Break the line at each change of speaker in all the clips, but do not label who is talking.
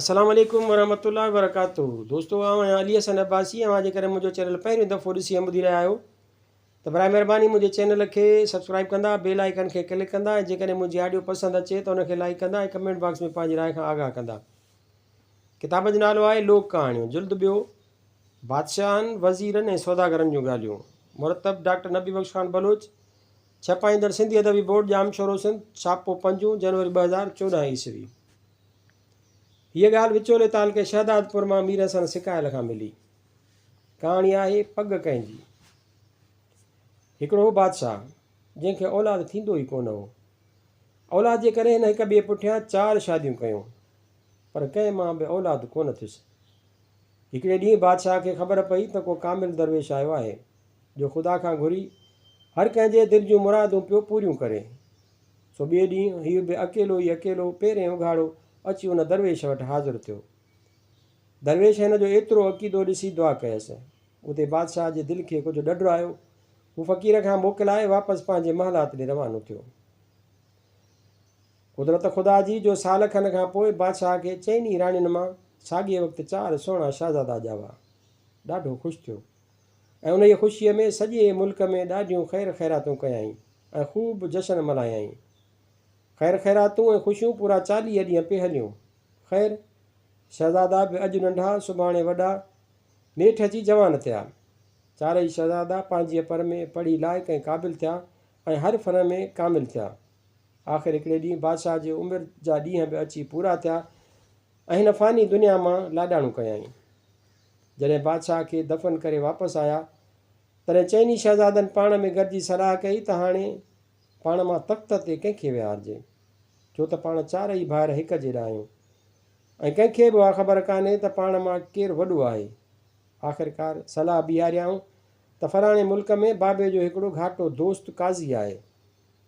السلام عليڪم ورحمة الله وبرڪاته دوستو آئون آهيان علي حسن عباسي اوهان جيڪڏهن منهنجو چينل پهريون دفعو ڏسي ۽ ٻڌي رهيا آهيو ته براء مهرباني منهنجي چينل کي سبسڪرائب ڪندا بيل آئيڪن کي ڪلڪ ڪندا ۽ جيڪڏهن منهنجي آڊيو پسند اچي ته ان کي لائيڪ ڪندا ۽ ڪمينٽ باڪس ۾ پنهنجي راء کان آگاهه ڪندا ڪتاب جو نالو آهي لوڪ ڪهاڻيون جلد ٻيو بادشاهن وزيرن ۽ سوداگرن جون ڳالهيون مرتب ڊاڪٽر نبي بخش خان بلوچ ڇپائيندڙ سنڌي ادبي بورڊ ڄام شورو سنڌ ڇاپو پنجون جنوري ٻه هزار چوڏهن عيسوي هيء ڳالهه وچولي تعلقي شهدادپور مان مير حسن سڪايل کان ملي. ڪهاڻي آهي پڳ ڪنهن جي. هڪڙو هو بادشاهه، جنهن کي اولاد ٿيندو ئي ڪونه هو. اولاد جي ڪري هن هڪ ٻئي پٺيان چار شاديون ڪيون، پر ڪنهن مان به اولاد ڪونه ٿيس. هڪڙي ڏينهن بادشاهه کي خبر پئي ته ڪو ڪامل درويش آيو آهي، جو خدا کان گهري، هر ڪنهن جي دل جون مرادون پيو پوريون ڪري. سو ٻئي ڏينهن هيء به اڪيلو ئي اڪيلو پيرين اگهاڙو اچي ان درويش وٽ حاضر ٿيو. درويش هن جو ايترو عقيدو ڏسي دعا ڪيس. اتي بادشاهه جي دل کي ڪجهه ڏڍ آيو. هو فقير کان موڪلائي واپس پنهنجي محلات ڏي روانو ٿيو. قدرت خدا جي جو سال کن کان پوء بادشاهه کي چئن ئي راڻين مان ساڳئي وقت چار سهڻا شهزادا ڄاوا. ڏاڍو خوش ٿيو. ۽ انهيء خوشيء ۾ سڄي ملڪ ۾ ڏاڍيون خير خيراتون ڪيائين ۽ خوب جشن ملهايائين. خير خيراتون ۽ خوشيون پورا چاليهه ڏينهن پئي هليون. خير! شهزادا به اڄ ننڍا، سڀاڻي وڏا، نيٺ اچي جوان ٿيا. چارئي شهزادا پنهنجيء پر ۾ پڙهي لائق ۽ قابل ٿيا ۽ هر فن ۾ ڪامل ٿيا. آخر هڪڙي ڏينهن بادشاهه جي عمر جا ڏينهن به اچي پورا ٿيا ۽ هن فاني دنيا مان لاڏاڻو ڪيائين. جڏهن بادشاهه کي دفن ڪري واپس آيا، تڏهن چئني شهزادن پاڻ ۾ گڏجي صلاح ڪئي ته هاڻي پاڻ مان تخت تي ڪنهن کي ويهارجي، ڇو ته پاڻ چارئي ڀائر هڪ جيڏا آهيون ۽ ڪنهن کي به اها خبر ڪانهي ته پاڻ مان ڪير وڏو آهي. آخرڪار صلاح بيهاريائون ته فلاڻي ملڪ ۾ بابي جو هڪڙو گهاٽو دوست قاضي آهي،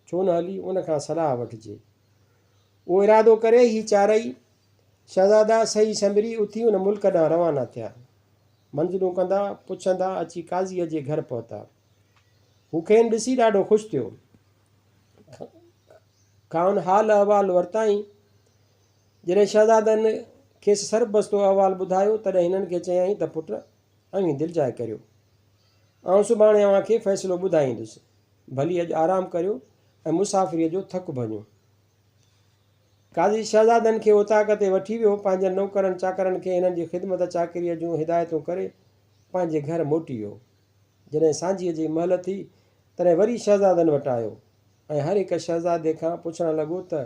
ڇو نه هلي ان کان صلاح وٺجي. اهو ارادو ڪري هي چارئي شهزادا سهي سنبري اٿي ان ملڪ ڏانهن روانا ٿيا. منزلون ڪندا پڇندا اچي قاضيء جي گهر پهتا. هو کين ڏسي ڏاڍو خوش ٿيو. کانئن حال احوال ورتائين. جڏهن شهزادن کيس سربستو احوال ٻڌايو تڏهن هنن کي چيائين ته پٽ اوهين دلجاء ڪريو. آئون سڀاڻي اوهان کي فيصلو ٻڌائيندس. ڀلي اڄ آرام ڪريو ۽ مسافريء جو ٿڪ ڀڃو. قاضي شهزادن کي اوطاق تي وٺي ويو. پنهنجن نوڪرن چاڪرن کي هنن جي خدمت چاڪريء جون هدايتون ڪري پنهنجي گهر موٽي ويو. جڏهن سانجهيء جي مهل ٿي، تڏهن وري شهزادن وٽ آيو ۽ هر هڪ شهزادي کان پڇڻ لڳو ته،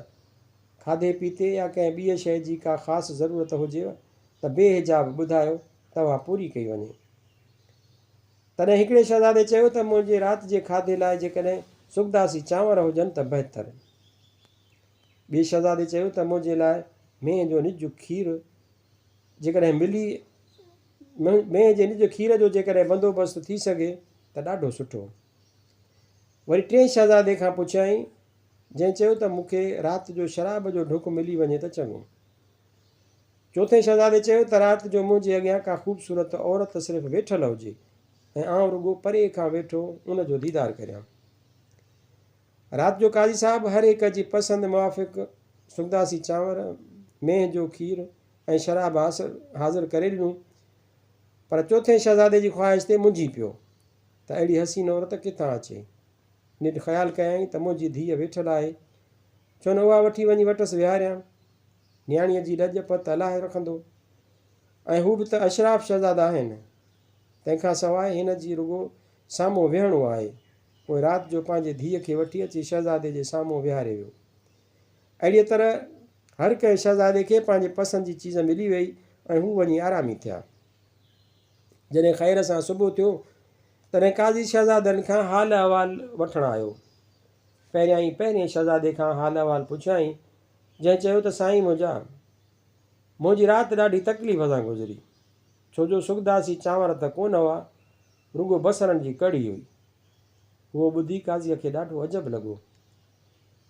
کاڌي پيتي يا ڪنهن ٻيء شيء جي ڪا خاص ضرورت هجيو ته بي حجاب ٻڌايو، توهان پوري ڪئي وڃي. تڏهن هڪڙي شهزادي چيو ته، منهنجي رات جي کاڌي لاء جيڪڏهن سڳدا سي چانور هجن ته بهتر. ٻئي شهزادي چيو ته منهنجي لاء مينهن جو نج کير جيڪڏهن ملي مينهن جي نج کير جو جيڪڏهن بندوبست ٿي سگهي ته ڏاڍو سٺو. وري ٽئين شهزادي کان پڇيائين جنهن چيو ته مون کي رات جو شراب جو ڍڪ ملي وڃي ته چڱو. چوٿين شهزادي چيو ته رات جو منهنجي اڳيان ڪا خوبصورت عورت صرف ويٺل هجي ۽ آئون رڳو پري کان ويٺو ان جو ديدار ڪريان. رات جو قاضي صاحب هر هڪ جي پسند موافق سنداسي چانور، مينهن جو کير ۽ شراب حاضر ڪري ڏنو، پر چوٿين شهزادي جي خواهش تي منجهي پيو ته اهڙي حسين عورت ڪٿان اچي؟ نڍ خيال ڪيائين ته منهنجي ڌيء ويٺل آهي، ڇو نه اها وٺي وڃي وٽس ويهاريان، نياڻيء جي لڄ پت الاهي رکندو ۽ هو به ته اشراف شهزادا آهن، تنهن کان سواء هن جي رڳو سامهون ويهڻو آهي. پوء رات جو پنهنجي ڌيء کي وٺي اچي شهزادي جي سامهون ويهاري ويو. اهڙيء طرح هر ڪنهن شهزادي کي پنهنجي پسند جي چيز ملي ويئي ۽ هو وڃي آرامي ٿيا. جڏهن خير سان صبح ٿيو، تڏهن قاضي شهزادن کان حال احوال وٺڻ آيو. پهريائين پهرئين شهزادي کان حال احوال پڇيائين، جنهن چيو ته سائين منهنجا! منهنجي رات ڏاڍي تڪليف سان گذري، ڇو جو سڳداسي چانور ته ڪونه هئا، رڳو بصرن جي ڪڙهي هئي. اهو ٻڌي قاضيء کي ڏاڍو عجب لڳو.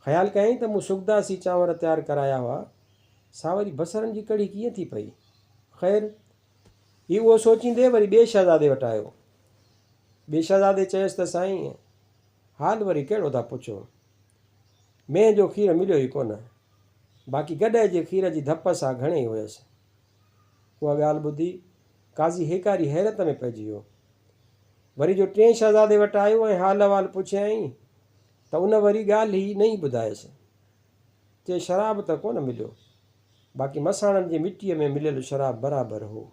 خيال ڪيائين ته مون سوگداسي چانور تيار ڪرايا هئا، سا وري بصرن جي ڪڙهي ڪيئن ٿي پئي؟ خير! هي اهو سوچيندي وري ٻئي شهزادي وٽ آيو. ٻئي شهزادي چيس ته سائين! حال وري ڪهڙو ٿا پڇو؟ مينهن جو کير مليو ئي ڪونه. باقي گڏهه جي کير جي ڌپ سا گهڻي هيس. اها ڳالهه ٻڌي قاضي هيڪاري حيرت ۾ پئجي ويو. وري جو ٽئين شهزادي وٽ آيو ۽ حال احوال پڇيائين ته ان وري ڳالهه ئي نئين ٻڌايس. چي شراب ته ڪونه مليو، باقي مساڻن جي مٽيء ۾ مليل شراب برابر هو.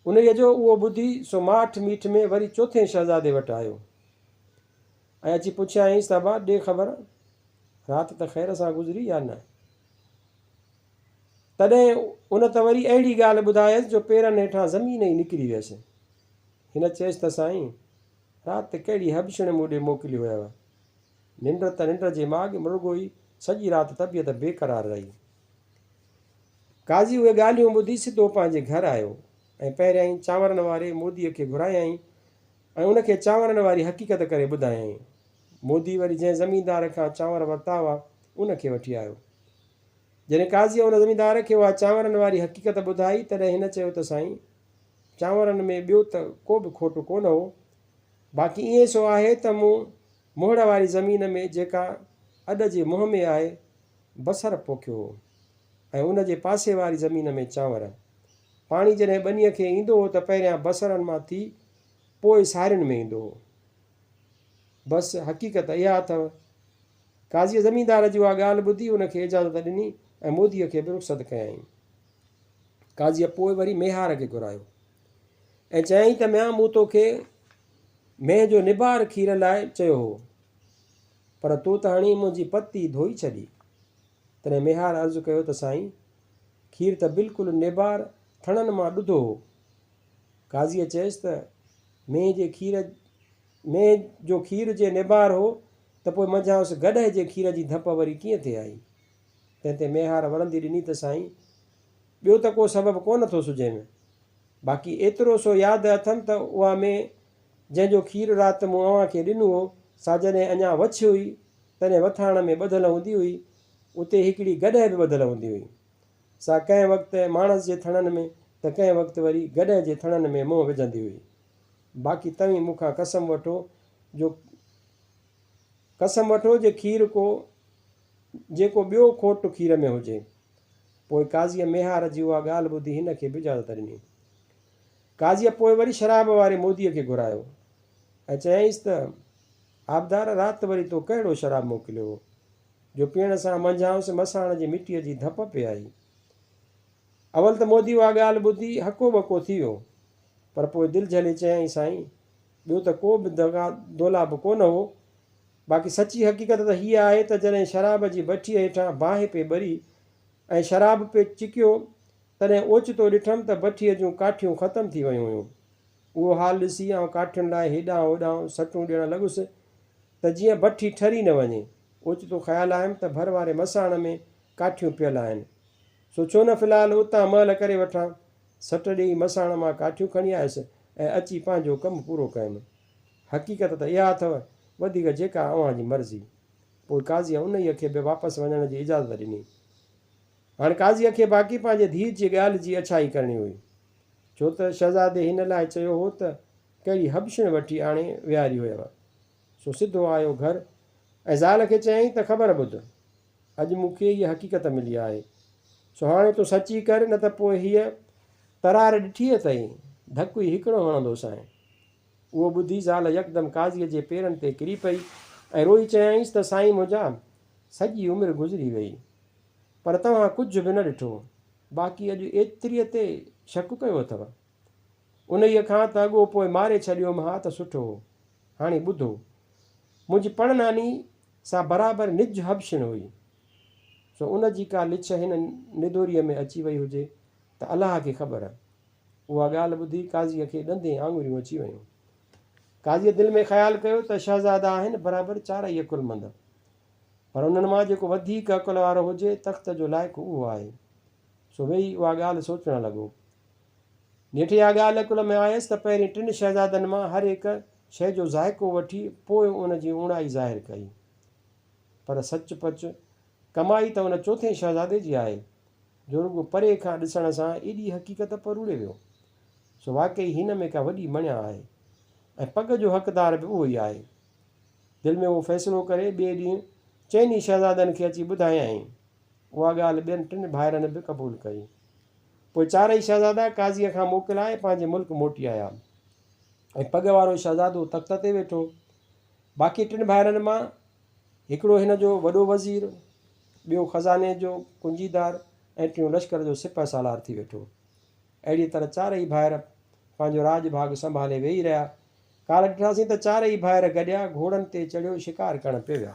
انهيء جو اهو ٻڌي سو ماٺ ميٺ ۾ وري چوٿين شهزادي وٽ آيو ۽ اچي پڇيائينس ته ابا ڏي خبر رات ته خير سان گذري يا نه؟ تڏهن ان ته وري اهڙي ڳالهه ٻڌايس جو پيرن هيٺان زمين ئي نڪري ويس. هن چيس ته سائين! رات ڪهڙي هٻڇڻ مون ڏي موڪلي هيو. ننڊ ته ننڊ جي ماڳ م رڳو ئي سڄي رات طبيعت بيقرار رهي. قاضي اهي ڳالهيون ٻڌي سڌو پنهنجي گهر آيو ۽ پهريائين چانورن واري مودي کي گهرايائين ۽ ان کي چانورن واري حقيقت ڪري ٻڌايائين. مودي وري جنهن زميندار کان چانور ورتا هئا ان کي وٺي آيو. جڏهن قاضيء ان زميندار کي اها چانورن واري حقيقت ٻڌائي، تڏهن هن چيو ته سائين! چانورن ۾ ٻيو ته ڪو به کوٽ ڪونه هو، باقي ائين سو آهي ته مون موهڙ واري زمين ۾، جيڪا اڏ جي منهن ۾ آهي، بصر پوکيو هو ۽ ان جي پاسي واري زمين ۾ چانور. پاڻي جڏهن ٻنيء کي ايندو هو ته پهريان بصرن مان ٿي پوء سارين ۾ ايندو هو. بس حقيقت اها اٿو قاضيء زميندار جي اها ڳالهه ٻڌي ان کي اجازت ڏني ۽ موديء کي به رخصت ڪيائين. قاضيء پوء وري ميهار کي گهرايو ۽ چيائين ته ميان مون تو کي مينهن جو نبار کير لاء چيو هو، پر تو ته هڻي منهنجي پتي ڌوئي ڇڏي. تڏهن ميهار عرض ڪيو ته سائين، کير ته بلڪل نبار ٿڻن مان ڏڌو هو. قاضيء چيس ته مينهن جي کير مينهن جو کير جي نبار هو ته پوء منجهانئس گڏهه جي کير جي ڌپ وري ڪيئن ٿي آئي؟ تنهن تي ميهار وڙهندي ڏني ته سائين! ٻيو ته ڪو سبب ڪونه ٿو سجهي م باقي ايترو سو ياد اٿم ته اها مينهن جنهن جو کير رات مون اوهان کي ڏنو هو سا جڏهن اڃا وڇ هئي تڏهن وٿاڻ ۾ ٻڌل هوندي هئي اتي هڪڙي گڏهه به ٻڌل هوندي هئي سا ڪنهن وقت ماڻس جي ٿڻن ۾ ته ڪنهن وقت وري گڏهه جي ٿڻن ۾ منهن وجهندي هئي. باقي توهين مون کان قسم وٺو جو قسم وٺو جي کير ڪو جيڪو ٻيو کوٽ کير ۾ هجي. پوء قاضيء ميهار جي اها ڳالهه ٻڌي هن کي به اجازت ڏني. قاضيء پوء وري شراب واري موديء کي گهرايو ۽ چيائينس ته آبدار رات وري تو ڪهڙو شراب موڪليو هو جو پيئڻ سان منجهانئس مساڻ جي مٽيء جي ڌپ پئي آئي. اول ته مودي اها ڳالهه ٻڌي هڪو ٻڪو ٿي ويو پر پوء دل جهلي چيائين سائين ٻيو ته ڪو به دغا دولا به ڪونه هو باقي سچي حقيقت ته هيء آهي ته جڏهن شراب جي بٺيء هيٺان باهه پئي ٻري ۽ شراب پئي چڪيو تڏهن اوچتو ڏٺم ته بٺيء جون ڪاٺيون ختم ٿي ويون هيون. اهو حال ڏسي آئون ڪاٺين لاء هيڏانهن هوڏانهن سٽون ڏيڻ لڳس ته جيئن بٺي ٺري نه وڃي. اوچتو خيال آيم ته ڀر واري مساڻ ۾ ڪاٺيون پيل آهن. سو ڇو نه في الحال اتان مهل ڪري وٺان. سٽ ڏيئي مساڻ مان ڪاٺيون کڻي آيس ۽ اچي پنهنجو ڪم پورو ڪيم. حقيقت ته اها اٿو، وڌيڪ جيڪا اوهان جي مرضي. پوء قاضيء انهيء کي به واپس وڃڻ جي اجازت ڏني. هاڻ قاضيء کي باقي پنهنجي ڌيء جي ڳالهه جي اڇائي ڪرڻي هئي. ڇو ته شهزادي هن لاء چيو هو ته ڪهڙي حبشڻ وٺي آڻي ويهاري هيو. سو سڌو آيو گهر ۽ زال کي چيائين ته خبر ٻڌ. اڄ مون کي هيء حقيقت ملي آهي. سو هاڻي تون سچ ئي ڪر، نه ته پوء هيء ترار ڏٺي اٿئي، ڌڪ ئي هڪڙو هڻندوسانء. اهو ٻڌي زال يڪدم قاضيء جي پيرن تي ڪري پئي ۽ روئي چيائينس ته سائين منهنجا، سڄي عمر گذري ويئي، پر توهان ڪجهه به نه ڏٺو، باقي اڄ ايتريء تي شڪ ڪيو اٿو؟ انهيء کان ته اڳو پوء ماري ڇڏيوم ها ته سٺو هو. هاڻي ٻڌو، منهنجي پڻ ناني سا برابر نج حبشڻ هئي، سو ان جي ڪا لڇ هن ندوريء ۾ اچي وئي هجي ته الله کي خبر. اها ڳالهه ٻڌي قاضيء کي ڏندين آڱريون اچي ويون. قاضيء دل ۾ خيال ڪيو ته شهزادا آهن برابر چارئي عقلمند، پر انهن مان جيڪو وڌيڪ عقل وارو هجي تخت جو لائق اهو آهي. سو ويهي اها ڳالهه سوچڻ لڳو. نيٺ اها ڳالهه عقل ۾ آيس ته پهرين ٽن شهزادن مان هر هڪ شيء جو ذائقو وٺي پوء ان جي اوڻائي ظاهر ڪئي. پر سچ پچ ڪمائي ته ان چوٿين شهزادي جي آهي، جو رڳو پري کان ڏسڻ سان ايڏي حقيقت پروڙي ويو. سو واقعي هن ۾ ڪا وڏي مڻيا آهي ۽ پڳ جو حقدار به اهو ئي آهي. دل ۾ اهو فيصلو ڪري ٻئي ڏينهن چئني شهزادن کي اچي ٻڌايائين. اها ڳالهه ٻين ٽن ڀائرن به قبول ڪئي. پوء چارئي شهزادا قاضيء کان موڪلائي پنهنجي ملڪ موٽي آيا ۽ پڳ وارو شهزادو تخت تي ويٺو. باقي ٽن ڀائرن مان هڪڙو هن جو وڏو وزير، ٻيو خزاني جو ڪنجيدار ۽ ٽيون لشڪر جو سپهه سالار ٿي ويٺو. اهڙيء طرح چارئي ڀائر پنهنجو راڄ ڀاڳ سنڀالي ويهي رهيا. ڪالهه ڏٺاسين ته چارئي ڀائر گڏيا گهوڙن تي چڙهيو شڪار ڪرڻ پئي ويا.